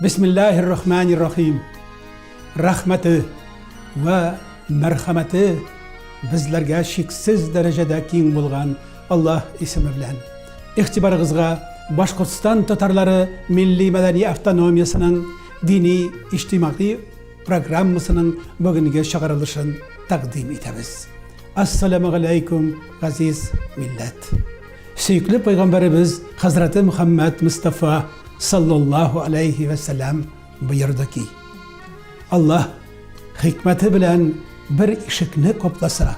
Бисмиллаһир рахманир рахим. Рәхмәте вә мәрхәмәте безләргә шиксез дәрәҗәдә киң булган Аллаһ исеме белән. Ихтибарыгызга Башкортстан татарлары милли мәдәни автономиясенең дини иҗтимагый программасының бүгенге чыгарылышын тәкъдим итәбез. Ассаламу алейкум, газиз милләт! Сөекле пәйгамбәребез хәзрәте Мөхәммәд Мустафа саллаллаһу алейхи вә сәлам боерды ки, Аллаһ хикмәте белән бер ишекне капласа,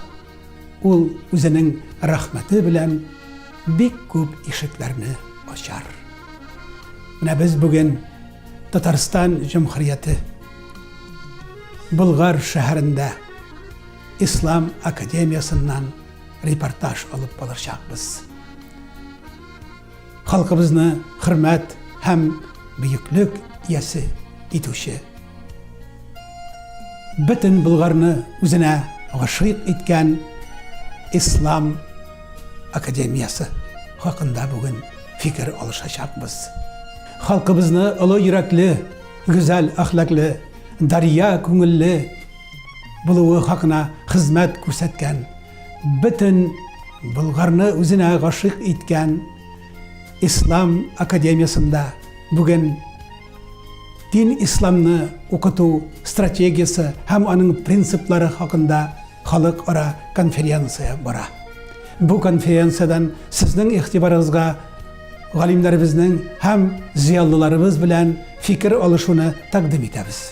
ул үзенең рәхмәте белән бик күп ишекләрне ачар. Менә без бүген Татарстан Җөмһүрияте Болгар шәһәрендә Ислам академиясеннән репортаж алып калачакбыз. Халкыбызны хөрмәт һәм бөеклек иясе итүче. Бөтен Болгарны үзенә гашыйк иткән Ислам академиясе хакында бүген фикер алышачакбыз. Халкыбызны олы йөрәкле, гүзәл әхлаклы, дария күңелле, булуы хакына хезмәт күрсәткән, бөтен Болгарны үзенә гашыйк иткән Ислам академиясендә бүген дин исламны укыту стратегиясе һәм аның принциплары хакында халыкара конференция бара. Бу конференциядән сезнең игътибарыгызга галимнәребезнең һәм зыялыларыбыз белән фикер алышуны тәкъдим итәбез.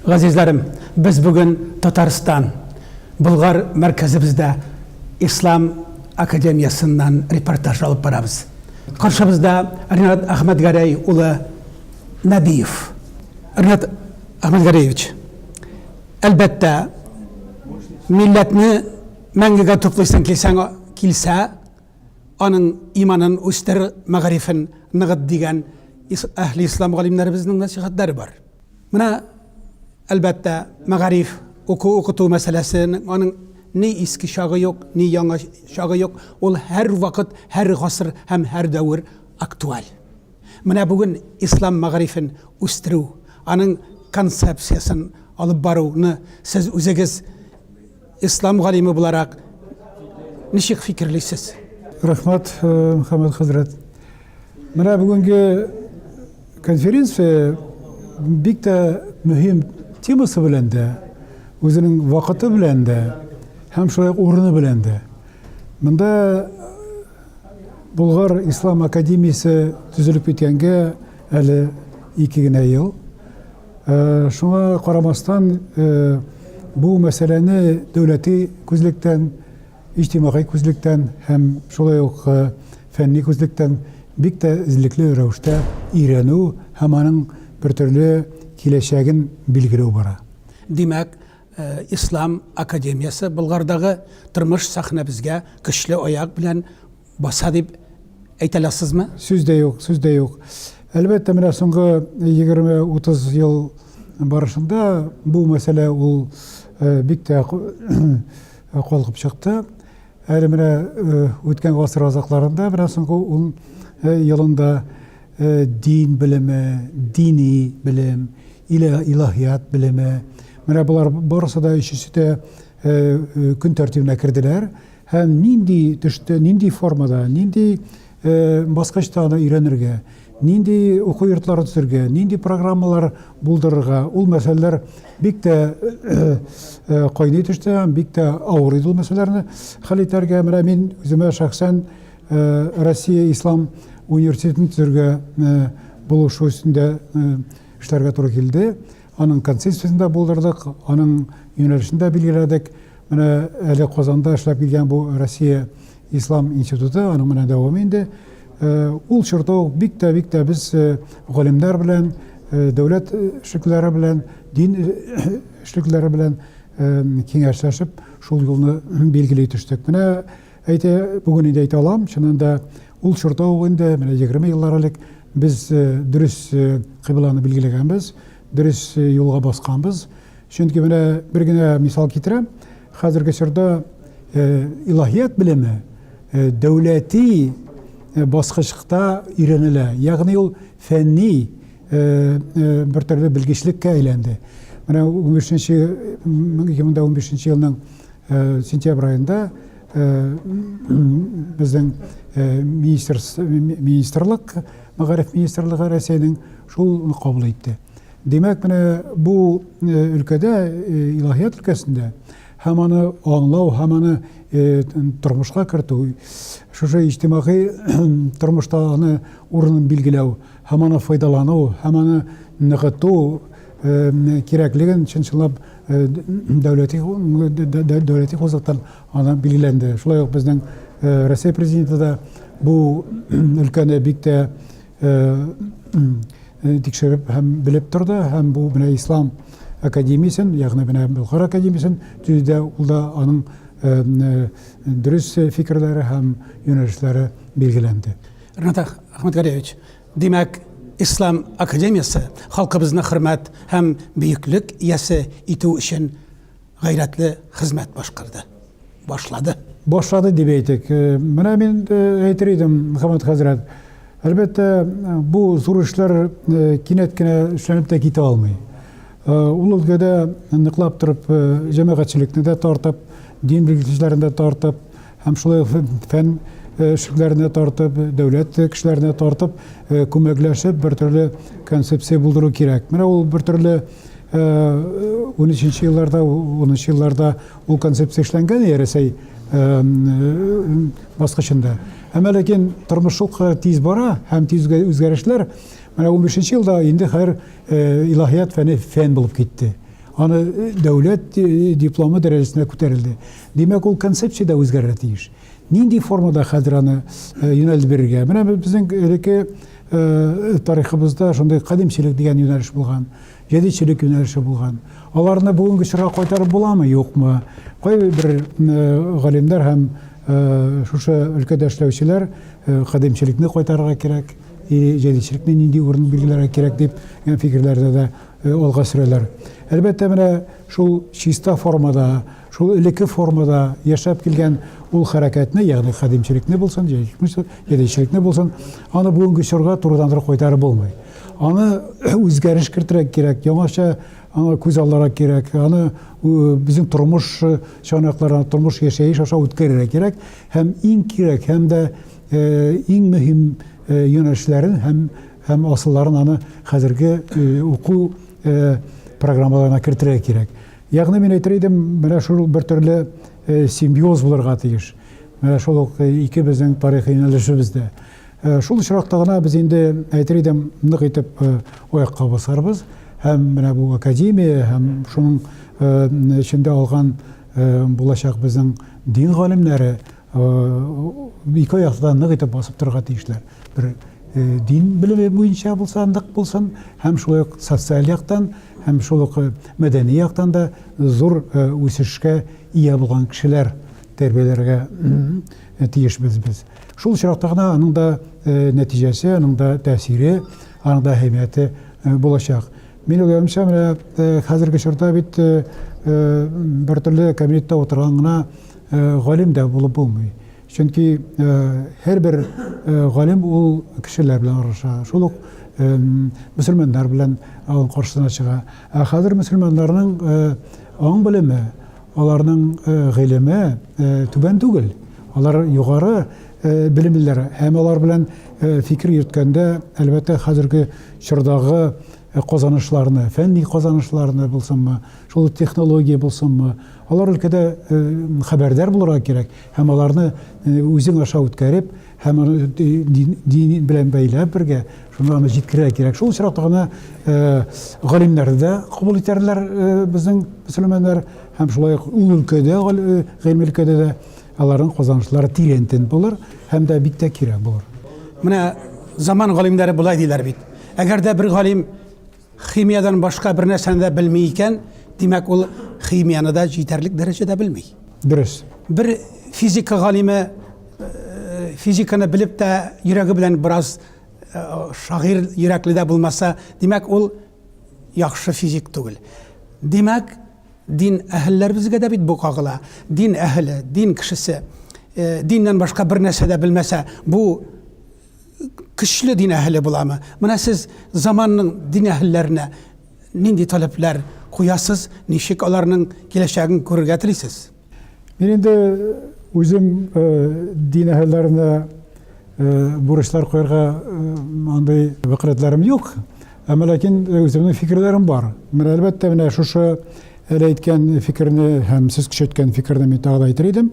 Газизләрем, без бүген Татарстан Болгар мәркәзебездә Ислам академиясеннән репортаж алып барабыз. Каршыбызда Ринат Әхмәтгәрәй улы Нәбиев. Ренат Ахмәтгариевич, әлбәттә, милләтне мәңгегә туплыйсың килсәң, килсә, аның иманын үстер, мәгарифен ныгыт дигән әһли ислам галимнәребезнең нәсихәтләре бар. Менә, әлбәттә, мәгариф, уку-укыту мәсьәләсен, аның ни иске чагы юк, ни яңа чагы юк, ул һәрвакыт, һәр гасыр һәм һәр дәвер актуаль. Менә бүген ислам мәгарифен үстерү, аның концепциясен алып баруны сез үзегез ислам галиме буларак ничек фикерлисез? Рәхмәт, Мөхәммәд хәзрәт. Менә бүгенге конференция бик тә мөһим темасы белән дә, үзенең вакыты белән дә һәм шулай ук урыны белән дә. Монда Булгар Ислам академиясе төзелеп киткәнгә әле ике генә ел. Э, шуңа карамастан э, бу мәсьәләне дәүләти күзлектән, иҗтимагый күзлектән һәм шулай ук э, фәнни күзлектән бик тә эзлекле рәвештә өйрәнү һәм аның бер төрле киләчәген билгеләү бара. Димәк, Ислам академиясе Болгардагы тормыш сәхнәбезгә көчле аяк белән баса дип әйтә аласызмы? Сүз дә юк, сүз дә юк. Әлбәттә, менә соңгы 20-30 ел барышында бу мәсьәлә ул бик тә калкып чыкты. Әле менә үткән гасыр азакларында, менә соңгы ун елында дин белеме, дини белем, Илә, илаһият белеме. Менә болар барысы да өчесе дә көн тәртибенә керделәр. Һәм нинди төштә, нинди формада, нинди баскычта аны өйрәнергә, нинди уку йортлары төзергә, нинди программалар булдырырга, ул мәсьәләләр бик тә кайный төште, бик тә авыр иде ул мәсьәләләрне хәл итәргә. Менә мин үземә шәхсән Россия ислам университетын төзергә булышу өстендә Эшләргә туры килде. Аның концепциясен дә булдырдык, аның юнәлешен дә билгеләдек. Менә әле Казанда эшләп килгән бу Россия Ислам институты, аның менә дәвамы инде. Э, ул чорда ук бик тә бик тә без э, галимнәр белән э, дәүләт эшлекләре белән дин эшлекләре белән киңәшләшеп шул юлны билгели төштек менә Әйтә, бүген инде әйтә алам, чыннан да ул чорда ук инде, менә егерме еллар элек без дөрес кыйбланы билгеләгәнбез, дөрес юлга басканбыз. Чөнки менә бер генә мисал китерәм, хәзерге чорда илаһият белеме дәүләти баскычта өйрәнелә. Ягъни ул фәнни бер төрле белгечлеккә әйләнде. Менә 15 нче 2015 елның Э, сентябрь айында э, біздің э, министрлық мәгариф министрлыгы рәсәйнең шул кабул итте демәк менә бу өлкәдә илаһият өлкәсендә һәм аны аңлау һәм аны тормышка кертү шушы иҗтимагый тормышта аны урынын билгеләү һәм аны файдалану һәм аны ныгыту кирәклеген чын-чынлап дәүләти дәүләти хозуктан аны билгеләнде. Шулай ук безнең Россия президенты да бу өлкәне бик тә тикшереп һәм белеп торды һәм бу менә ислам академиясен, ягъни менә Бохара академиясен төзүдә ул да аның дөрес фикерләре һәм юнәлешләре билгеләнде. Ренат Ахматгариевич, димәк, Ислам академиясе халкыбызны хөрмәт һәм бөеклек иясе итү өчен гайрәтле хезмәт башкарды. Башлады. Башлады дип әйтик. Э, менә мин э, әйтер идем, Мөхәммәд хәзрәт. Әлбәттә, э, бу зур эшләр кинәт кенә эшләнеп тә китә алмый. Ул өлкәдә ныклап торып, җәмәгатьчелекне дә тартып, дин белгечләрен дә тартып, һәм шулай фән эшлекләренә тартып, дәүләт кешеләренә тартып, күмәкләшеп бер төрле концепция булдыру кирәк. Менә ул бер төрле 13 елларда, 13 елларда ул концепция эшләнгән Рәсәй баскычында. Әмма ләкин тормыш шук тиз бара һәм тиз үзгәрешләр. Менә 15 елда инде хәзер илаһият фәне фән булып китте. Аны дәүләт дипломы дәрәҗәсенә күтәрелде. Димәк, ул концепция дә үзгәрергә тиеш. Нинди формада хәзер аны юнәлеш бирергә? Менә безнең элекке тарихыбызда шундый кадимчелек дигән юнәлеш булган, җәдидчелек юнәлеше булган. Аларны бүгенге чорга кайтарып буламы, юкмы? Кайбер галимнәр һәм шушы өлкәдә эшләүчеләр кадимчелекне кайтарырга кирәк, җәдидчелекне нинди урын билгеләргә кирәк дип фикерләрдә дә алга сөрәләр. Әлбәттә, менә шул чиста формада Шул элекке формада яшәп килгән ул хәрәкәтне, ягъни кадимчелекне булсын, җәдидчелекне булсын, аны бүгенге чорга турыдан туры кайтарып булмый. Аны үзгәреш кертергә кирәк, яңача аңа күз алларга кирәк, аны безнең тормыш чанакларын, тормыш яшәеш аша үткәрергә кирәк һәм иң кирәк һәм дә иң мөһим юнәлешләрен һәм һәм асылларын аны хәзерге уку программаларына кертергә кирәк. Ягъни мин әйтер идем, менә шул бер төрле симбиоз булырга тиеш. Менә шул ук ике безнең тарихи юнәлешебез дә. Шул очракта гына без инде әйтер идем, нык итеп аякка басарбыз һәм менә бу академия һәм шуның эчендә алган булачак безнең дин галимнәре Ике аяк астында нык итеп басып торырга тиешләр. Бер дин белеме буенча булса нык булсын, һәм шулай ук социаль яктан, һәм шул ук мәдәни яктан да зур үсешкә ия булган кешеләр тәрбияләргә тиешбез без. Шул очракта гына аның да нәтиҗәсе, аның да тәэсире, аның да әһәмияте булачак. Мин уйлавымча, менә э, хәзерге чорда бит э, э, бер төрле кабинетта утырган гына галим дә булып булмый. Чөнки һәр бер галим ул кешеләр белән аралаша. Шул ук мөселманнар белән аның каршысына чыга. Ә хәзер мөселманнарның аң белеме, аларның гыйлеме түбән түгел. Алар югары белемлеләр һәм алар белән фикер йөрткәндә, әлбәттә, хәзерге чордагы казанышларны, фәнни казанышларны булсынмы, шул технология булсынмы, алар өлкәдә хәбәрдар булырга кирәк һәм аларны үзең аша үткәреп, һәм аны дин белән бәйләп бергә, шуны аны җиткерә кирәк. Шул очракта гына галимнәрне дә кабул итәрләр безнең мөселманнар һәм шулай ук ул өлкәдә, гыйльме өлкәдә дә аларның казанышлары тирәнтен булыр һәм дә бик тә кирәк булыр. Менә заман галимнәре болай диләр бит. Әгәр дә бер галим химиядән башка бер нәрсәне дә белми икән, димәк ул химияны да җитәрлек дәрәҗәдә белми. Дөрес. Бер физика галиме э, физиканы белеп тә йөрәге белән бераз э, шагыйрь йөрәкле дә булмаса, димәк ул яхшы физик түгел. Димәк, Дин әһелләребезгә дә бит бу кагыла. Дин әһеле, дин кешесе, диннән башка бер нәрсә дә белмәсә, бу көчле дин әһеле буламы? Менә сез заманның дин әһелләренә нинди таләпләр куясыз, ничек аларның киләчәген күрергә телисез? Мин инде үзем дин әһелләренә бурычлар куярга андый вәкаләтләрем юк. Әмма ләкин үземнең фикерләрем бар. Менә әлбәттә менә шушы әле әйткән фикерне һәм сез көчәйткән фикерне мин тагы да әйтер идем.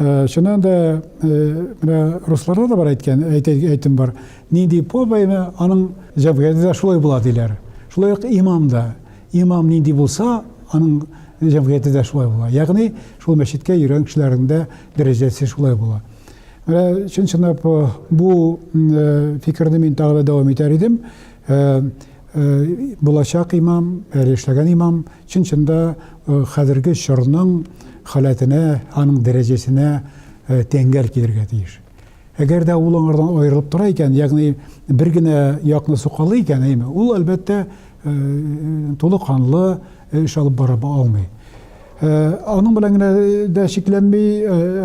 Чыннан да менә русларда да бар әйткән әйтем бар. Нинди повайны аның җәбгәде дә шулай була диләр. Шулай ук имам да. Имам нинди булса, аның җәмгыяте дә шулай була. Ягъни, шул мәчеткә йөргән кешеләрнең дә дәрәҗәсе шулай була. Менә чын-чынлап э, бу э, фикерне мин тагы да дәвам итәр идем. Э, булачак имам, әле эшләгән имам чын-чында хәзерге чорның халәтенә, аның дәрәҗәсенә тәңгәл килергә тиеш. Әгәр дә ул аңардан аерылып тора икән, ягъни бер генә якны сукалый икән, әйме, ул, әлбәттә, тулы канлы эш алып бара алмый. Аның белән генә дә чикләнми,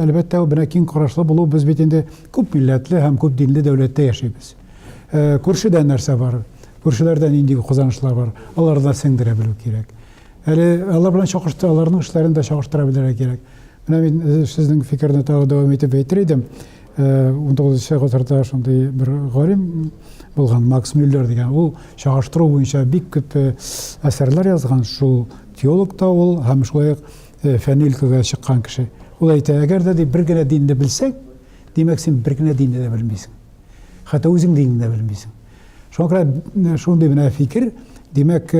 әлбәттә, бер киң карашлы булу, без бит инде күп милләтле һәм күп динле дәүләттә яшибез. Күршедә нәрсә бар? Күршеләрдә нинди казанышлар бар? Аларда сеңдерә белү кирәк. Әле алар белән чагыштыра, аларның эшләрен дә чагыштыра белергә кирәк. Менә мин э, сезнең фикерне тагы дәвам итеп әйтер идем. 19 э, гасырда шундый бер галим булган Макс Мюллер дигән. Ул чагыштыру буенча бик күп э, әсәрләр язган. Шул теолог та ул һәм шулай ук фәнни өлкәгә чыккан кеше. Ул әйтә, әгәр дә бер генә динне белсәң, димәк син бер генә динне дә белмисең. Хәтта үзең динен дә белмисең. Шуңа күрә шундый менә фикер, димәк,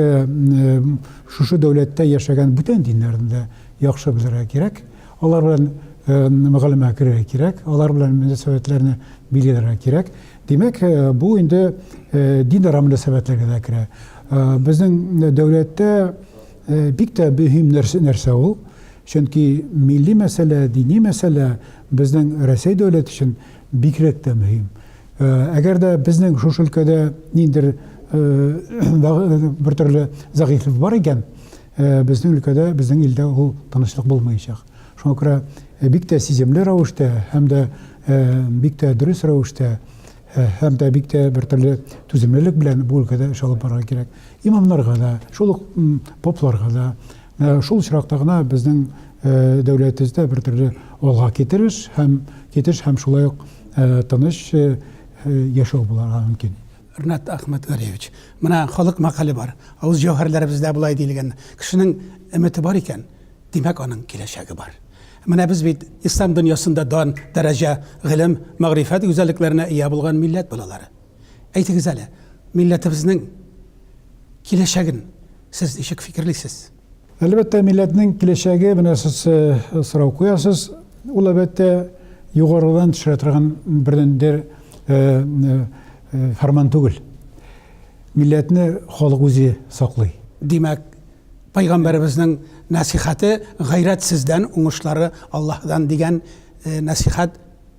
шушы дәүләттә яшәгән бүтән диннәрне дә яхшы белергә кирәк. Алар белән мөгалимәгә керергә кирәк, алар белән мөнәсәбәтләрне билгеләргә кирәк. Димәк, бу инде динара мөнәсәбәтләргә дә керә. Безнең дәүләттә бик тә мөһим нәрсә ул. Чөнки милли мәсьәлә, дини мәсьәлә безнең Рәсәй дәүләте өчен Бигрәк тә мөһим. Әгәр дә безнең шушы өлкәдә ниндер бер төрле зәгыйфлек бар икән, безнең өлкәдә, безнең илдә ул тынычлык булмаячак. Шуңа күрә бик тә сиземле рәвештә һәм дә бик тә дөрес рәвештә һәм дә бик тә бер төрле түземлелек белән бу өлкәдә эш алып барырга кирәк. Имамнарга да, шул ук попларга да, шул очракта гына безнең дәүләтебездә бер төрле алга китереш һәм китеш һәм шулай ук тыныч яшәү буларга мөмкин. Ренат Ахматгалиевич, менә халык мәкале бар, авыз җәүһәрләребездә болай диелгән, кешенең өмете бар икән, димәк аның киләчәге бар. Менә без бит ислам дөньясында дан, дәрәҗә, гыйлем, мәгърифәт гүзәллекләренә ия булган милләт балалары. Әйтегез әле, милләтебезнең киләчәген сез ничек фикерлисез? Әлбәттә, милләтнең киләчәге менә сез э, сорау куясыз. Ул әлбәттә югарыдан төшерә торган бердәндер э, э, фәрман түгел. Милләтне халык үзе саклый. Димәк, пайгамбарыбызның насихаты гайрәт сездән, уңышлары Аллаһдан дигән насихат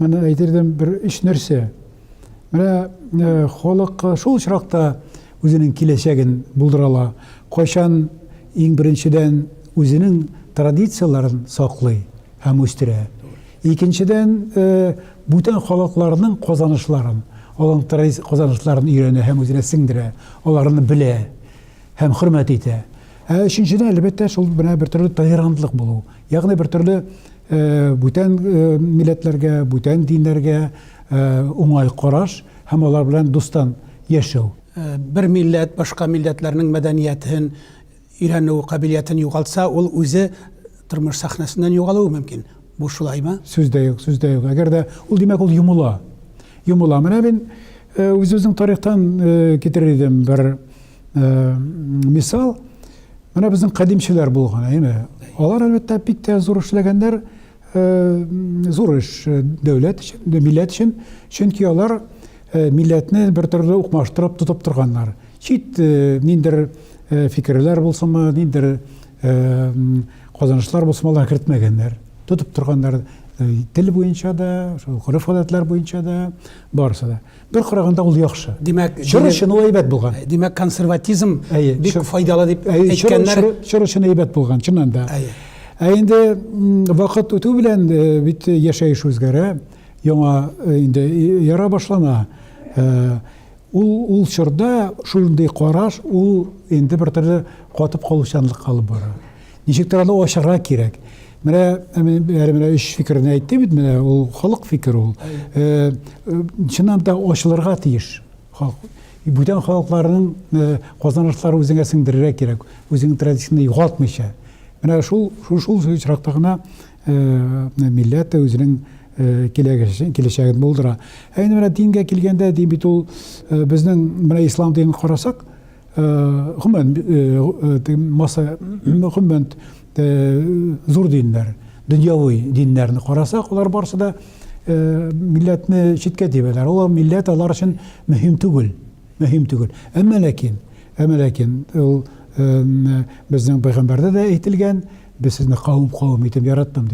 Менә әйтердем бер өч нәрсә. Менә э, халык шул очракта үзенең киләчәген булдыра ала. Кайчан иң беренчедән үзенең традицияләрен саклый һәм үстерә. Икенчедән, э, бүтән халыкларның казанышларын, аларның традиция казанышларын өйрәнә һәм үзенә сеңдерә, аларны белә һәм хөрмәт итә. Ә өченчедән, әлбәттә, шул менә бер төрле толерантлык булу. Ягъни бер төрле бүтән милләтләргә, бүтән диннәргә уңай караш һәм алар белән дустан яшәү. Бер милләт башка милләтләрнең мәдәниятен өйрәнү кабилиятен югалтса, ул үзе тормыш сәхнәсеннән югалуы мөмкин. Бу шулаймы? Сүз дә юк, сүз дә юк. Әгәр дә ул димәк ул йомыла. Йомыла. Менә мин үз-үзең тарихтан китерер идем бер мисал менә безнең кадимчеләр булган әйме алар әлбәттә бик тә зур эшләгәннәр зур эш дәүләт өчен милләт өчен чөнки алар милләтне бер төрле укмаштырып тотып торганнар чит ниндер фикерләр булсынмы ниндер казанышлар булсынмы алар кертмәгәннәр тотып торганнар тел буенча да шул гореф гадәтләр буенча да барысы да Бер караганда ул яхшы. Димәк, чор өчен ул әйбәт булган. Димәк, консерватизм бик файдалы дип әйткәннәр. Чор өчен әйбәт булган, чыннан да. Ә инде вакыт үтү белән бит яшәеш үзгәрә, яңа инде яра башлана. Ул ул чорда шундый караш, ул инде бер төрле катып калучанлыкка алып бара. Ничектер аны ачарга кирәк. Менә әле менә өч фикерне әйтте бит, менә ул халык фикере ул. Э, э, чыннан да ачылырга тиеш. Бүтән халыкларның э, казанышлары үзеңә сеңдерергә кирәк, үзеңнең традицияңне югалтмыйча. Менә шул шул шул очракта гына милләт үзенең киләчәген булдыра. Ә инде менә дингә килгәндә, дин бит ул безнең менә ислам динен карасак, Гомумән, масса, гомумән, зур диннәр, дөньяви диннәрне карасак, алар барысы да милләтне читкә тибәләр. Ул милләт алар өчен мөһим түгел, мөһим түгел. Әмма ләкин, әмма ләкин, ул безнең пәйгамбәрдә дә әйтелгән, без сезне кавым-кавым итеп яраттым,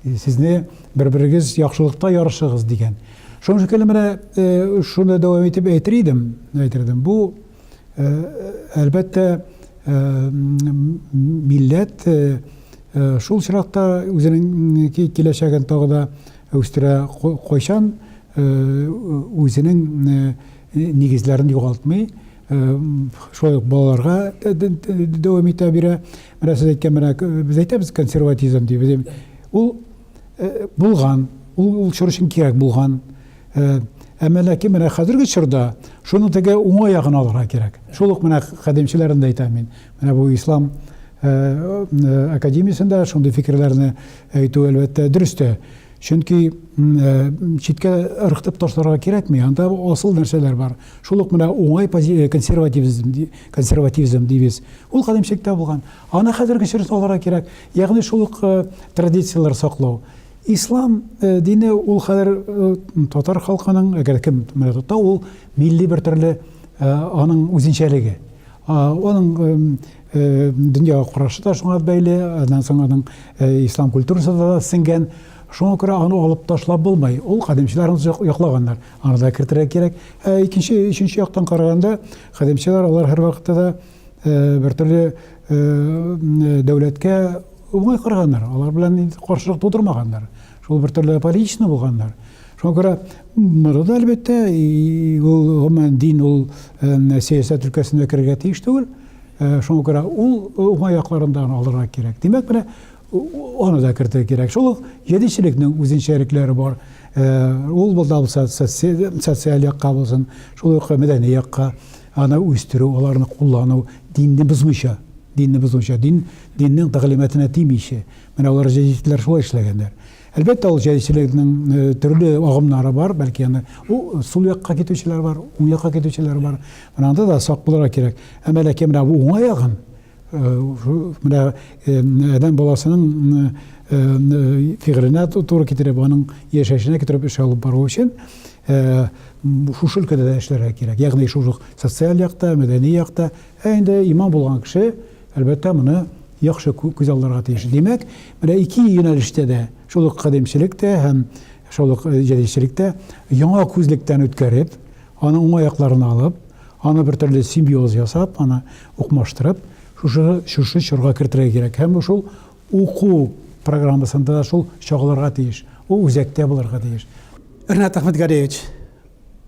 сезне бер-берегез яхшылыкта ярышыгыз дигән. Шуның шикелле менә шуны дәвам итеп әйтер идем, әйтер идем. Бу әлбәттә милләт шул чиракта үзенең киләчәген тагы да үстерә кайчан үзенең нигезләрен югалтмый шулай ук балаларга дәвам итә бирә. Менә сез әйткән менә без әйтәбез консерватизм дип. Ул булган, ул ул чор өчен кирәк булган. Әмма ләкин менә хәзерге чорда шуны теге уңай ягын алырга кирәк. Шул ук менә кадимчеләрен дә әйтәм мин. Менә бу ислам академиясендә шундый фикерләрне әйтү әлбәттә дөрес тә. Чөнки читкә ыргытып ташларга кирәкми, анда асыл нәрсәләр бар. Шул ук менә уңай консервативизм, консервативизм дибез. Ул кадимчелектә булган. Аны хәзергечә сакларга кирәк. Ягъни шул ук традицияләр саклау. Ислам дине ул хәзер татар халкының, әгәр кем менә тота, ул милли бер төрле аның үзенчәлеге. Аның дөньяга карашы да шуңа бәйле, аннан соң аның ислам культурасы да сеңгән. Шуңа күрә аны алып ташлап булмый. Ул кадимчеләр аны яклаганнар. Аны да кертергә кирәк. Ә икенче, өченче яктан караганда, кадимчеләр алар һәрвакытта да бертөрле дәүләткә уңай караганнар, алар белән каршылык тудырмаганнар. Шул бертөрле аполитично булганнар. Шуңа күрә монда да әлбәттә ул гомумән дин ул сәясәт өлкәсенә керергә тиеш түгел. Шуңа күрә ул уңай якларын да алырга кирәк. Димәк, менә аны да кертергә кирәк. Шул ук җәдитчелекнең үзенчәлекләре бар. Ул булса социаль якка булсын, шул ук мәдәни якка. Аны үстерү, аларны куллану, динне бозмыйча, динне бозмыйча, дин, диннең тәгълиматына тимичә. Менә алар җәдитчеләр шулай эшләгәннәр. Әлбәттә, ул җәдитчелекнең төрле агымнары бар, бәлки аны ул сул якка китүчеләр бар, уң якка китүчеләр бар. Менә анда да сак булырга кирәк. Әмма ләкин менә бу уңай агым, Менә адәм баласының фигыленә туры китереп, аның яшәешенә китереп эш алып бару өчен шушы өлкәдә дә эшләргә кирәк. Ягъни шушы социаль якта, мәдәни якта. Ә инде имам булган кеше, әлбәттә, моны яхшы күз алларга тиеш. Димәк, менә ике юнәлештә дә, шул ук кадимчелек тә һәм шул ук җәдидчелек тә яңа күзлектән үткәреп, аны уңай якларын алып, Аны бер төрле симбиоз ясап, аны укмаштырып, шушы, шушы чорга кертергә кирәк. Һәм бу шул уку программасында да шул чагылырга тиеш. Ул үзәктә булырга тиеш. Ренат Әхмәтгалиевич,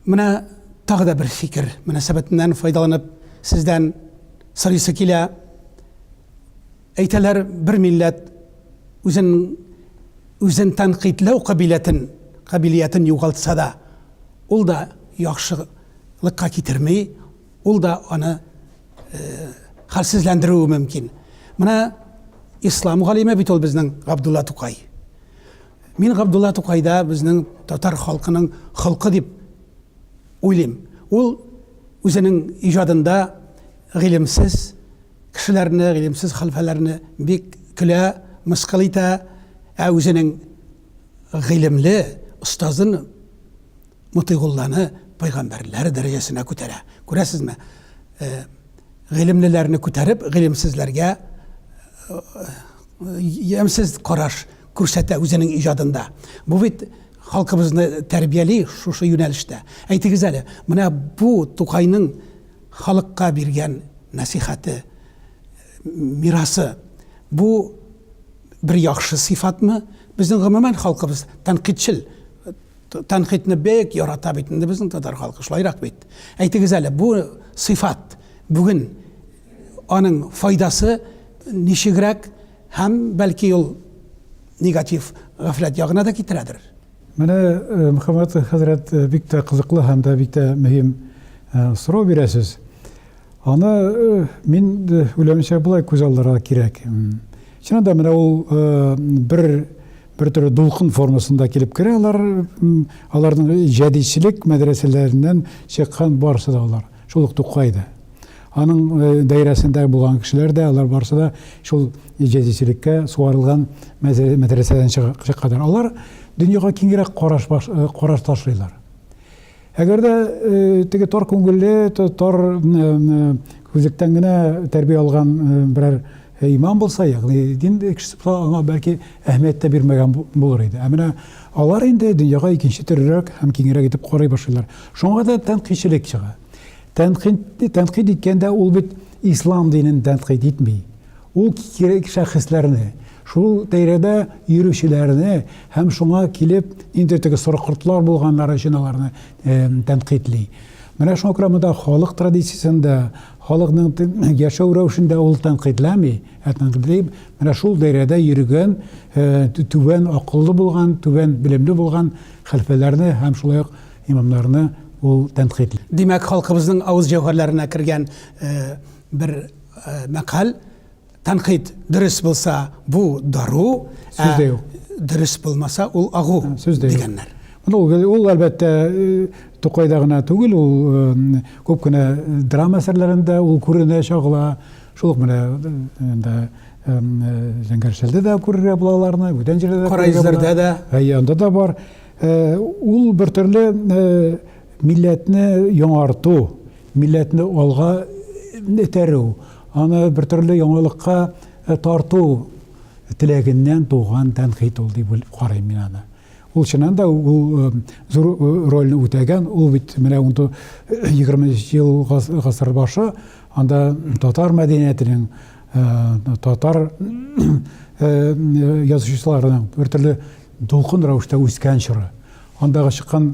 менә тагы да бер фикер мөнәсәбәтеннән файдаланып сездән сорыйсы килә. Әйтәләр, бер милләт үзен үзен тәнкыйтьләү кабилятен, кабилиятен югалтса да, ул да яхшы кыенлыкка китерми, ул да аны хәлсезләндерүе мөмкин. Менә ислам галиме бит ул безнең Габдулла Тукай. Мин Габдулла Тукайда безнең татар халкының холкы дип уйлыйм. Ул үзенең иҗадында гыйлемсез кешеләрне, гыйлемсез хәлфәләрне бик көлә, мыскыл итә, ә үзенең гыйлемле остазын Мотыйгулланы пәйгамбәрләр дәрәҗәсенә күтәрә. Күрәсезме? Э, гыйлемлеләрне күтәреп, гыйлемсезләргә ямьсез э, караш күрсәтә үзенең иҗадында. Бу бит халкыбызны тәрбияли шушы юнәлештә. Әйтегез әле, менә бу Тукайның халыкка биргән нәсихәте, мирасы, бу бер яхшы сыйфатмы? Безнең гомумән халкыбыз тәнкыйтьчел Тәнкыйтьне бик ярата бит инде безнең татар халкы, шулайрак бит. Әйтегез әле, бу сыйфат бүген аның файдасы ничегрәк һәм бәлки ул негатив гафләт ягына да китерәдер. Менә э, Мөхәммәт хәзрәт э, бик тә кызыклы һәм дә бик тә мөһим э, сорау бирәсез. Аны мин уйлавымча болай күз алдырырга кирәк. Чынында менә ул бер Бер төрле дулкын формасында килеп керә алар, аларның җәдидчелек мәдрәсәләреннән чыккан барысы да алар, шул ук Тукай да. Аның э, даирәсендә булган кешеләр дә, алар барысы да шул җәдидчелеккә суарылган мәдрәсәдән чыкканнар. Алар дөньяга киңрәк караш, э, караш ташлыйлар. Әгәр дә теге тар күңелле, тар күзлектән генә тәрбия алган берәр имам булса, ягъни дин кешесе булса, аңа бәлки әһмият тә бирмәгән булыр иде. Ә менә алар инде дөньяга икенче төрлерәк һәм киңрәк итеп карый башлыйлар. Шуңа да тәнкыйтьчелек чыга. Тәнкыйть тәнкыйть иткәндә ул бит ислам динен тәнкыйть итми. Ул кирәк шәхесләрне, шул тәйрәдә йөрүчеләрне һәм шуңа килеп инде теге сорыкортлар булганнар өчен аларны тәнкыйтьли. Менә шуңа күрә монда халык традициясендә, халыкның яшәү рәвешендә ул тәнкыйтьләми, ә тәнкыйтьли менә шул даирәдә йөргән, түбән акыллы булган, түбән белемле булган хәлфәләрне һәм шулай ук имамнарны ул тәнкыйтьли. Димәк, халкыбызның авыз җәүһәрләренә кергән бер Мәкаль тәнкыйть дөрес булса, бу дару, сүз дә юк. Дөрес булмаса, ул агу дигәннәр. Ну, ул әлбәттә Тукайда гына түгел, ул күп кенә драма әсәрләрендә ул күренә, чагыла. Шул ук менә инде Зәңгәршәлдә дә күрергә була аларны, бүтән җирдә дә. Караизләрдә дә. Әйе, анда да бар. Ул бер төрле Милләтне яңарту, милләтне алга этәрү, аны бер төрле яңалыкка тарту теләгеннән туган тәнкыйть ул дип карыйм мин аны. Ул чыннан да ул зур рольне үтәгән, ул бит менә 20 ел гасыр башы, анда татар мәдәниятенең, татар язучыларының бер төрле дулкын рәвештә үскән чоры. Андагы чыккан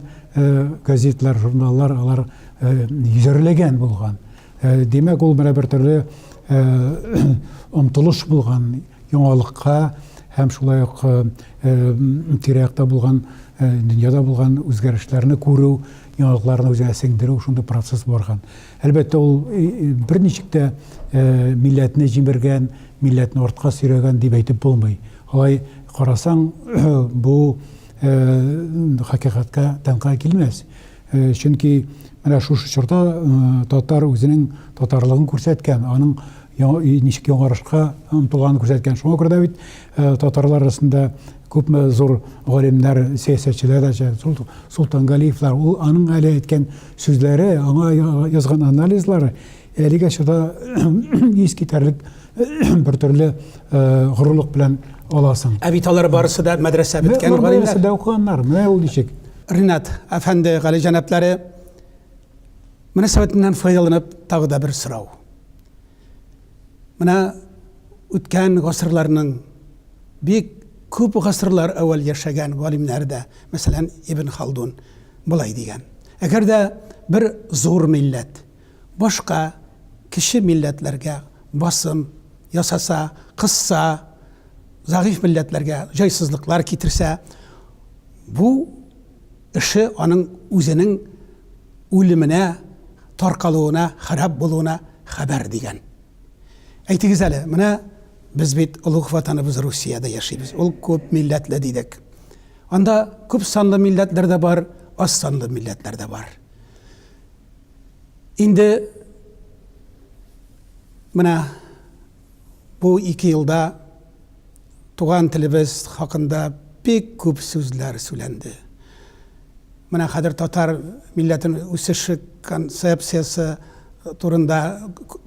газетлар, журналлар, алар йөзәрләгән булган. Димәк, ул менә бер төрле омтылыш булган яңалыкка һәм шулай ук тирәктә булган дөньяда булган үзгәрешләрне күрү, яңалыкларны үзенә сеңдерү шундый процесс барган. Әлбәттә, ул берничек тә милләтне җимергән, милләтне артка сөйрәгән дип әйтеп булмый. Алай карасаң, бу хакыйкатькә тәңка килмәс. Чөнки менә шушы чорда татар үзенең татарлыгын күрсәткән, аның ничек яңарышка омтылганын күрсәткән. Шуңа күрә дә бит татарлар арасында күпме зур галимнәр, сәясәтчеләр дә чыга. Солтангалиевлар, ул аның әле әйткән сүзләре, аңа язган анализлары әлегә чорда искитәрлек бер төрле горурлык белән аласың. Ә бит алар барысы да мәдрәсә беткән галимнәр. Барысы да укыганнар. Менә ул ничек. Ринат әфәнде, гали җәнаплары мөнәсәбәтеннән файдаланып тагы да бер сорау. Менә үткән гасырларның бик күп гасырлар әүвәл яшәгән галимнәр дә, мәсәлән, Ибн Халдун былай дигән. Әгәр дә бер зур милләт, Башка кече милләтләргә басым ясаса, кысса, зәгыйфь милләтләргә җайсызлыклар китерсә, бу эше аның үзенең үлеменә, таркалуына, харап булуына хәбәр, дигән. Әйтегез әле, менә без бит олуг Ватаныбыз Русиядә яшибез, ул күп милләтле дидек. Анда күп санлы милләтләр дә бар, аз санлы милләтләр дә бар. Инде менә бу ике елда туган телебез хакында бик күп сүзләр сүләнде. Менә хәзер татар милләтен үсеше концепциясе турында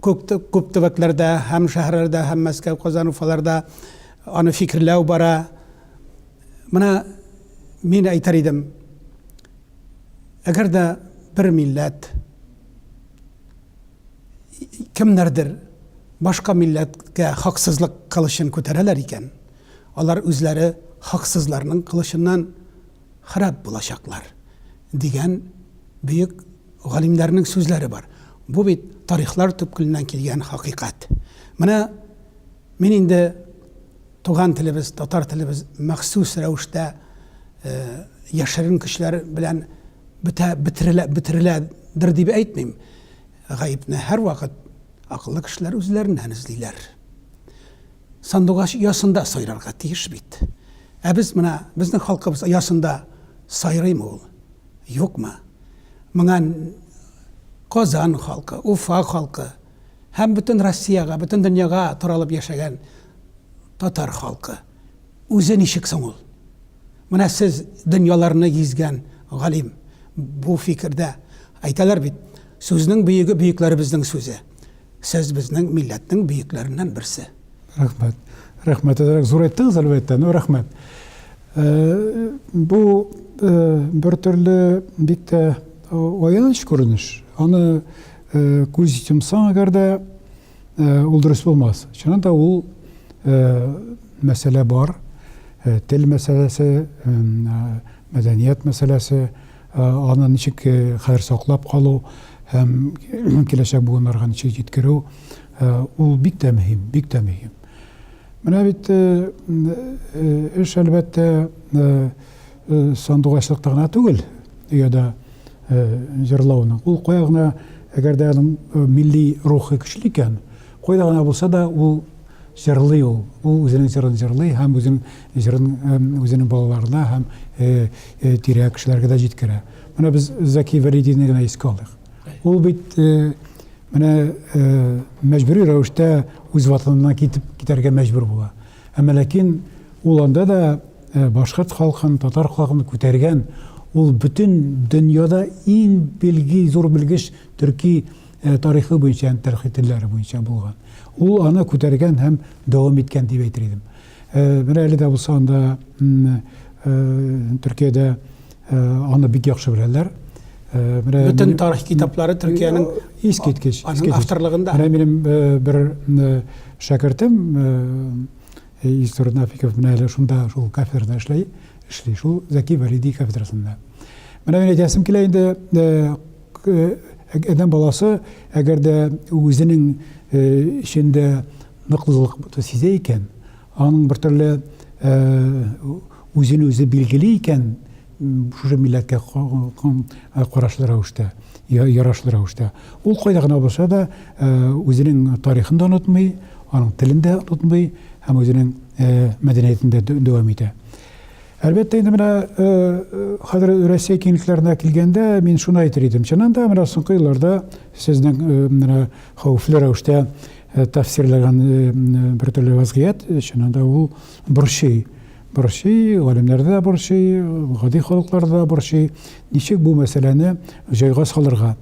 күп төбәкләрдә һәм шәһәрләрдә һәм Мәскәү, Казан, Уфаларда аны фикерләү бара. Менә мин әйтер идем, Әгәр дә бер милләт кемнәрдер башка милләткә хаксызлык кылычын күтәрәләр икән, алар үзләре хаксызларның кылычыннан харап булачаклар, дигән бөек галимнәрнең сүзләре бар. Бу бит тарихлар төпкеленнән килгән хакыйкать. Менә мин инде Туган телебез, татар телебез махсус рәвештә яшерен көчләр белән бетә, бетерелә, бетереләдер дип әйтмим. Гаепне һәрвакыт акыллы кешеләр үзләреннән эзлиләр. Сандугач ясында сайрарга тиеш бит. Ә без менә безнең халкыбыз ясында сайрыймы ул? Юкмы? Моңа Казан халкы, Уфа халкы, һәм бөтен Россиягә, бөтен дөньяга таралып яшәгән татар халкы. Үзе ничек соң ул? Менә сез дөньяларны гизгән галим бу фикердә. Әйтәләр бит, сүзнең бөеге бөекләребезнең сүзе. Сез безнең милләтнең бөекләреннән берсе. Рәхмәт. Рәхмәт. Әзрәк зур әйттегез, әлбәттә. Ну, рәхмәт. Э, бу э, бер төрле бик тә аяныч күренеш. Аны Э, күз йомсаң әгәр дә э, ул дөрес булмас чыннан да ул э, мәсьәлә бар тел мәсьәләсе мәдәният мәсьәләсе аны ничек хәзер саклап калу һәм киләчәк буыннарга ничек җиткерү ул бик тә мөһим бик тә мөһим менә бит эш әлбәттә Э, сандугачлыкта гына түгел, дөяда э, җырлауның. Ул кая гына, әгәр дә аның э, милли рухы көчле икән, кайда гына булса да ул җырлый ул. Ул үзенең җырын җырлый һәм үзен җырын үзенең балаларына һәм тирә кешеләргә дә җиткерә. Менә без Заки Вәлидине генә искә алдык. Ул бит менә мәҗбүри рәвештә үз ватанына китеп китәргә мәҗбүр була. Әмма ләкин ул анда да Башкорт халкын, татар халкын күтәргән ул бөтен дөньяда иң билги, зур белгеч төрки тарихы буенча һәм тәрхителләре буенча булган. Ул аны күтәргән һәм дәвам иткән дип әйтер идем. Менә әле дә булса анда Төркиядә аны бик яхшы беләләр. Менә бөтен тарих китаплары Төркиянең искиткеч, искиткеч. Авторлыгында. Менә минем бер шәкертем Илсур Нафиков менә әле шунда, шул кафедрада эшләй, эшли, шул Зәки Вәлиди кафедрасында. Менә мин әйтәсем килә инде, адәм баласы, әгәр дә үзенең эчендә ныклылык сизә икән, аның бер төрле үзен үзе билгели икән, шушы милләткә карашлы рәвештә, ярашлы рәвештә. Ул кайда гына булса да үзенең тарихын да онытмый, аның телен дә онытмый һәм үзенең мәдәниятен дә дәвам итә. Әлбәттә, инде менә хәзер Россия киңлекләренә килгәндә, мин шуны әйтер идем. Чыннан да, менә соңгы елларда сезнең менә хәвефле рәвештә тәфсирләгән бер төрле вазгыять, чыннан да, ул борчый. Борчый, галимнәр дә борчый, гади халыклар да борчый. Ничек бу мәсьәләне җайга салырга?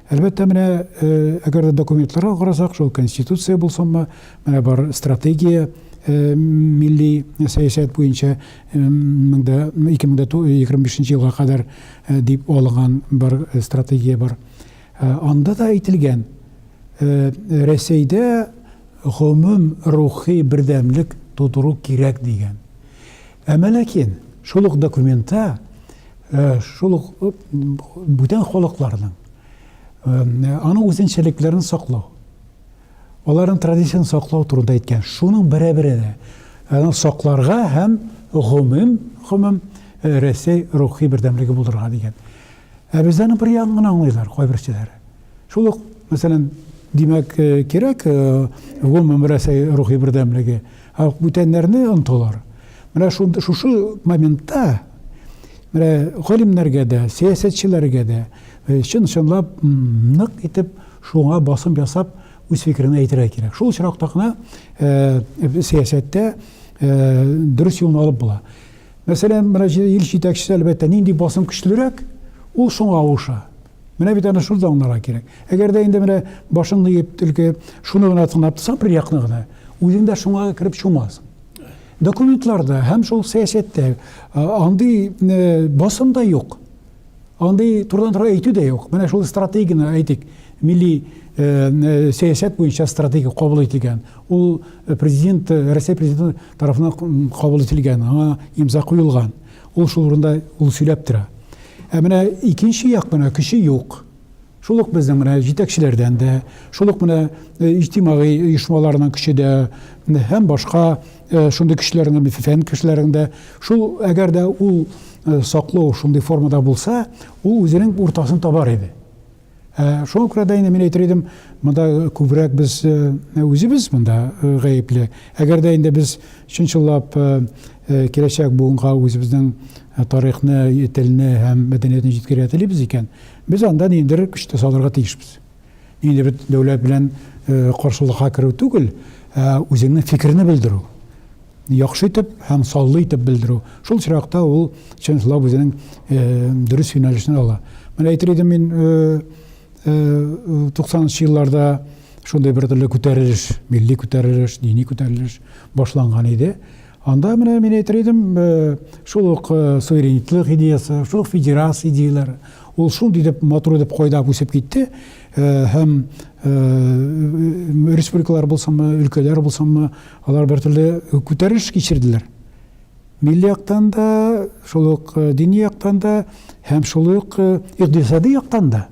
Әлбәттә, менә әгәр дә документларга карасак, шул конституция булсынмы, менә бар стратегия милли сәясәт буенча 2025 елга кадәр дип алынган бар стратегия бар. Анда да әйтелгән, Рәсәйдә гомум рухи бердәмлек тудыру кирәк дигән. Әмма ләкин шул ук документта шул ук бүтән халыкларның аның үзенчәлекләрен саклау, аларның традицион саклау турында әйткән. Шуның берәбере дә аны сакларга һәм гомум гомум Рәсәй рухи бердәмлеге булдырырга дигән. Ә бездә аны бер ягын гына аңлыйлар кайберчеләр. Шул ук, мәсәлән, димәк, э, кирәк, э, гомум берәсәй рухи бердәмлеге, ә бүтәннәрне онтылар. Менә шундый шушы моментта менә галимнәргә дә, сәясәтчеләргә дә э, чын чынлап нык итеп шуңа басым ясап үз фикерен әйтергә кирәк. Шул очракта гына сәясәттә дөрес юлны алып була. Мәсәлән, мөрәҗәгать ил җитәкчесе, әлбәттә, нинди басым көчлерәк, ул шуңа авыша. Менә бит аны шул да аңларга кирәк. Әгәр дә инде менә башыңны иеп, төлке шуны гына тыңлап торсаң, бер якны гына, үзең дә шуңа кереп чумасың. Документларда һәм шул сәясәттә андый басым да юк. Андый турыдан-туры әйтү дә юк. Менә шул стратегияне әйтик, милли сәясәт буенча стратегия кабул ителгән. Ул президент, Россия президенты тарафына кабул ителгән, аңа имза куелган. Ул шул урында ул сөйләп тора. Ә менә икенче як менә көче юк. Шул ук безнең менә җитәкчеләрдән дә, шул ук менә э, иҗтимагый оешмаларның көче дә һәм башка э, шундый кешеләрнең фән кешеләрендә шул әгәр дә ул э, саклау шундый формада булса, ул үзенең уртасын табар иде. Ә шуңа күрә дә инде мин әйтер идем, монда күбрәк без үзебез монда гаепле. Әгәр дә инде без чынчыллап киләчәк буынга үзебезнең тарихны, телне һәм мәдәниятне җиткерергә телибез икән, без анда ниндидер көч тә салырга тиешбез. Инде бит дәүләт белән каршылыкка керү түгел, ә үзеңнең фикерне белдерү. яхшы итеп һәм саллы итеп белдерү. Шул очракта ул чынлап үзенең дөрес юнәлешне ала. Менә әйтер идем мин 90 елларда шундый бер төрле күтәрелеш, милли күтәрелеш, дини күтәрелеш башланган иде. Анда менә мин әйтер идем, шул ук суверенитет идеясы, шул ук федерация идеяләре, ул шундый дип матур итеп кайдап үсеп китте һәм республикалар булсынмы, өлкәләр булсынмы, Алар бертөрле күтәрелеш кичерделәр. Милли яктан да, шул ук э, дини яктан да һәм шул ук э, икътисади яктан да.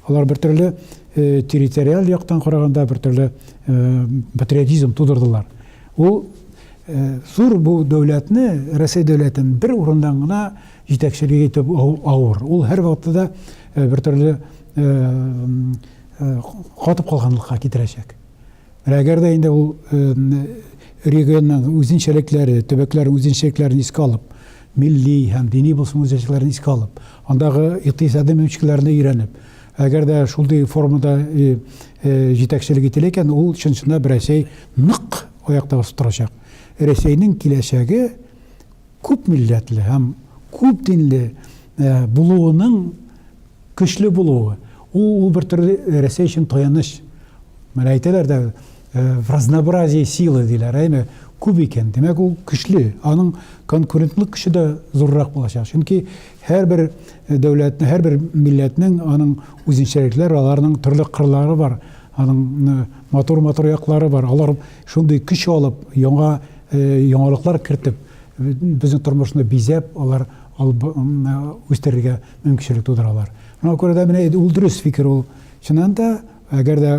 Алар бертөрле э, территориаль яктан караганда бертөрле патриотизм тудырдылар. Ул зур бу дәүләтне, Россия дәүләтен бер урыннан гына җитәкчелек итеп авыр. Ул һәр вакытта да бертөрле катып калганлыкка китерәчәк. Менә әгәр дә инде ул регионның үзенчәлекләре, төбәкләрнең үзенчәлекләрен искә алып, милли һәм дини булсын үзенчәлекләрен искә алып, андагы икътисади мөмкинлекләрне өйрәнеп, әгәр дә шундый формада җитәкчелек ителә икән, ул чын-чынлап да Рәсәй нык аякта басып торачак. Рәсәйнең киләчәге күп милләтле һәм күп динле булуының Көчле булуы, ул, ул бер төрле Рәсәй өчен таяныч. Менә әйтәләр дә, в разнообразии силы, диләр, әйме, күп икән, димәк, ул көчле, аның конкурентлык көче дә зуррак булачак. Чөнки һәрбер дәүләтнең, һәрбер милләтнең аның үзенчәлекләре, аларның төрле кырлары бар, аның матур-матур яклары бар. Алар шундый көч алып, яңа яңалыклар кертеп, безнең тормышны бизәп, алар үстерергә мөмкинчелек тудыралар. Шуңа күрә дә менә ул дөрес фикер ул. Чыннан да, әгәр дә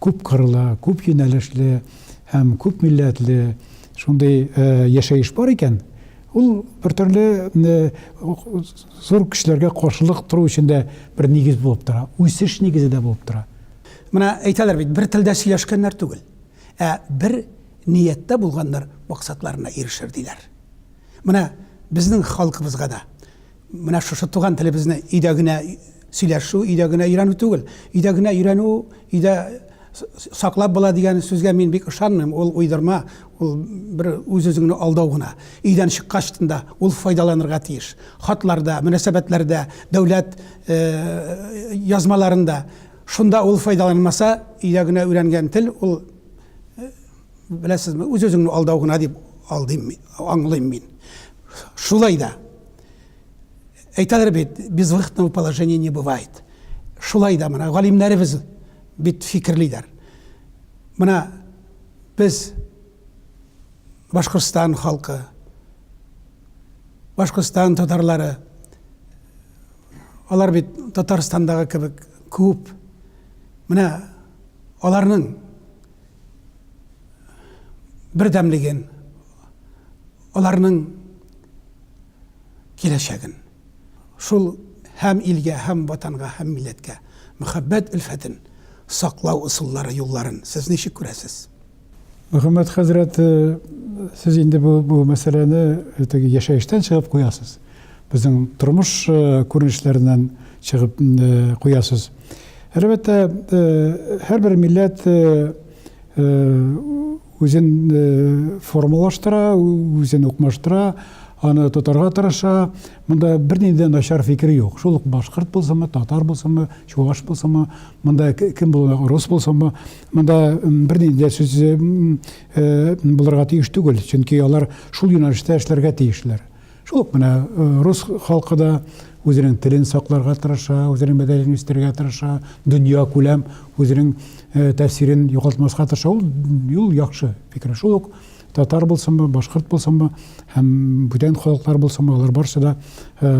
күп кырлы, күп юнәлешле һәм күп милләтле шундый яшәеш бар икән, ул бер төрле зур көчләргә каршылык тору өчен дә бер нигез булып тора, үсеш нигезе дә булып тора. Менә әйтәләр бит, бер телдә сөйләшкәннәр түгел, ә бер нияттә булганнар максатларына ирешер, диләр. Менә безнең халкыбызга да Менә шушы туган телебезне өйдә генә сөйләшү, өйдә генә өйрәнү түгел. Өйдә генә өйрәнү, өйдә саклап була дигән сүзгә мин бик ышанмыйм. Ул уйдырма, ул бер үз-үзеңне алдау гына. Өйдән чыккач тында ул файдаланырга тиеш. Хатларда, мөнәсәбәтләрдә, дәүләт э, язмаларында. Шунда ул файдаланмаса, өйдә генә өйрәнгән тел ул Беләсезме, үз-үзеңне алдау гына дип алдыйм мин, аңлыйм мин. Шулай да әйтәләр бит, безвыходного положения не бывает. Шулай да менә галимнәребез бит фикерлиләр. Менә без Башкортстан халкы, Башкортстан татарлары, алар бит Татарстандагы кебек күп. Менә аларның бердәмлеген, аларның киләчәген, шул һәм илгә, һәм Ватанга, һәм милләткә мәхәббәт өлфәтен саклау ысуллары, юлларын сез ничек күрәсез? Мөхәммәт хәзрәт, сез инде бу мәсьәләне теге яшәештән чыгып куясыз. Безнең тормыш күренешләреннән чыгып куясыз. Әлбәттә, һәрбер милләт үзен формалаштыра, үзен укмаштыра, аны тотарга тырыша. Монда бернинди начар фикер юк. Шул ук башкорт булсынмы, татар булсынмы, чуваш булсынмы, монда кем булуы, рус булсынмы, монда бернинди дә сүз булырга тиеш түгел, чөнки алар шул юнәлештә эшләргә тиешләр. Шул ук менә рус халкы да үзенең телен сакларга тырыша, үзенең мәдәниятен үстерергә тырыша, дөнья күләм үзенең тәэсирен югалтмаска тырыша. Ул юл яхшы фикер. Шул ук татар булсынмы, башкорт булсынмы һәм бүтән халыклар булсынмы, алар барсы да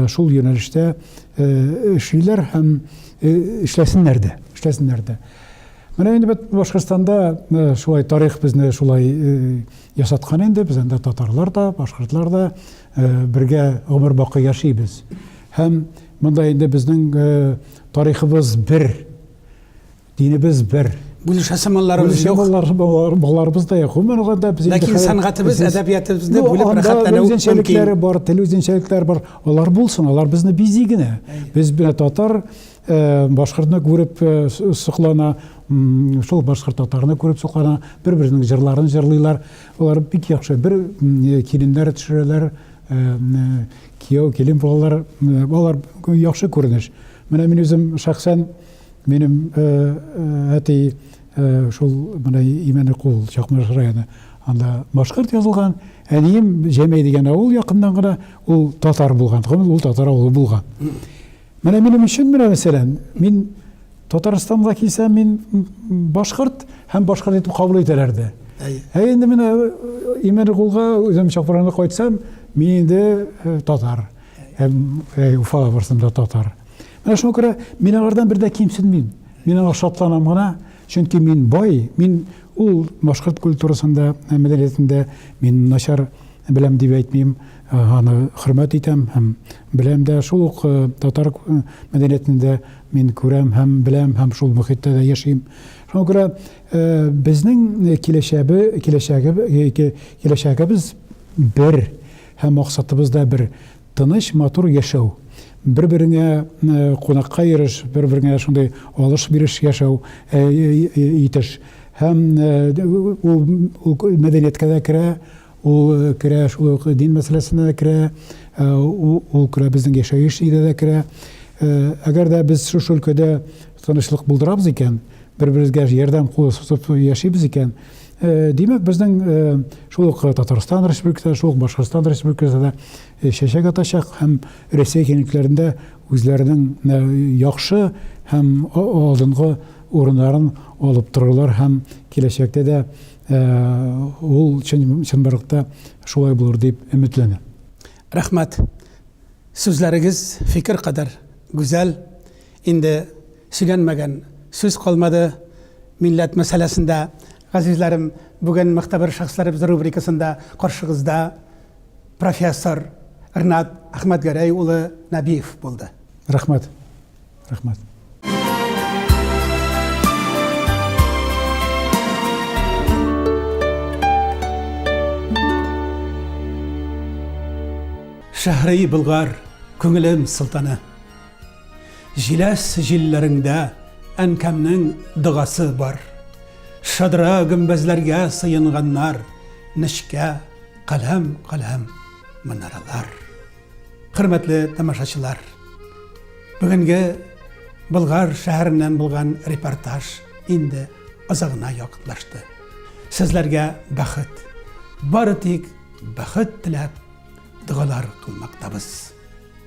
шул юнәлештә эшлиләр һәм эшләсеннәр дә, эшләсеннәр дә. Менә инде бит Башкортстанда шулай тарих безне шулай Ясаткан инде, без анда татарлар да, башкортлар да бергә гомер бакый яшибез. Һәм монда инде безнең тарихыбыз бер, динебез бер. Бүлешәсе малларыбыз юк. Малларыбыз да юк. Гомер алганда без инде Ләкин сәнгатебез, әдәбиятыбызны бүлеп рәхәтләнү мөмкин. бар, тел үзенчәлекләре бар. Алар булсын, алар безне бизи генә. Без бит татар, Э, башкортны күреп э, соклана шул башкорт татарны күреп соклана бер беренең җырларын җырлыйлар алар бик яхшы бер э, киленнәр төшерәләр кияү килен булалар алар яхшы күренеш менә мин үзем шәхсән минем әти шул менә имәне кул чакмаш районы анда башкорт язылган әнием җәмәй дигән авыл якыннан гына ул татар булган ул татар авылы булган Менә минем өчен менә мәсәлән, мин Татарстанга килсәм, мин башкорт һәм башкорт итеп кабул итәләр дә. Ә инде менә Имәнкулга үзем чакырганда кайтсам, мин инде татар. Уфага барсам да татар. Менә шуңа күрә мин алардан бер дә кимсенмим. Мин аңа шатланам гына. Чөнки мин бай, мин ул башкорт культурасында, мәдәниятендә мин начар беләм дип әйтмим, аны хөрмәт итәм һәм беләм дә, шул ук татар мәдәниятендә мин күрәм һәм беләм һәм шул мөхиттә дә яшим. Шуңа күрә безнең киләчәбе, киләчәге, киләчәгебез бер һәм максатыбыз да бер. Тыныч, матур яшәү. Бер-береңә кунакка йөреш, бер-береңә шундый алыш-биреш яшәү, итеш. Һәм ул мәдәнияткә дә керә, ул керә шул ук дин мәсьәләсенә дә керә, ул керә безнең яшәеш өйдә дә керә. Әгәр дә без шушы өлкәдә тынычлык булдырабыз икән, бер-беребезгә ярдәм кулы сузып яшибез икән, Э, димәк безнең э, шул ук э, татарстан республикасында шул ук башкортстан республикасында чәчәк атачак һәм рәсәй киңлекләрендә үзләренең яхшы һәм алдынгы урыннарын алып торырлар һәм киләчәктә дә ул чынбарлыкта шулай булыр дип өметләнә рәхмәт сүзләрегез фикер кадәр гүзәл инде Сөйләнмәгән сүз калмады милләт мәсьәләсендә. Газизләрем, бүген Мөхтәбер шәхесләребез рубрикасында каршыгызда профессор Рнат Әхмәтгәрәй улы Нәбиев булды. Рәхмәт. Рәхмәт. Шәһри Болгар, күңелем солтаны. Җиләс җилләреңдә әнкәмнең догасы бар. Шадрә гөмбәзләргә сыенганнар, нечкә, каләм-каләм манаралар. Хөрмәтле тамашачылар! Бүгенге Болгар шәһәреннән булган репортаж инде азагына якынлашты. Сезләргә бәхет, бары тик бәхет теләп, догалар кылмактабыз.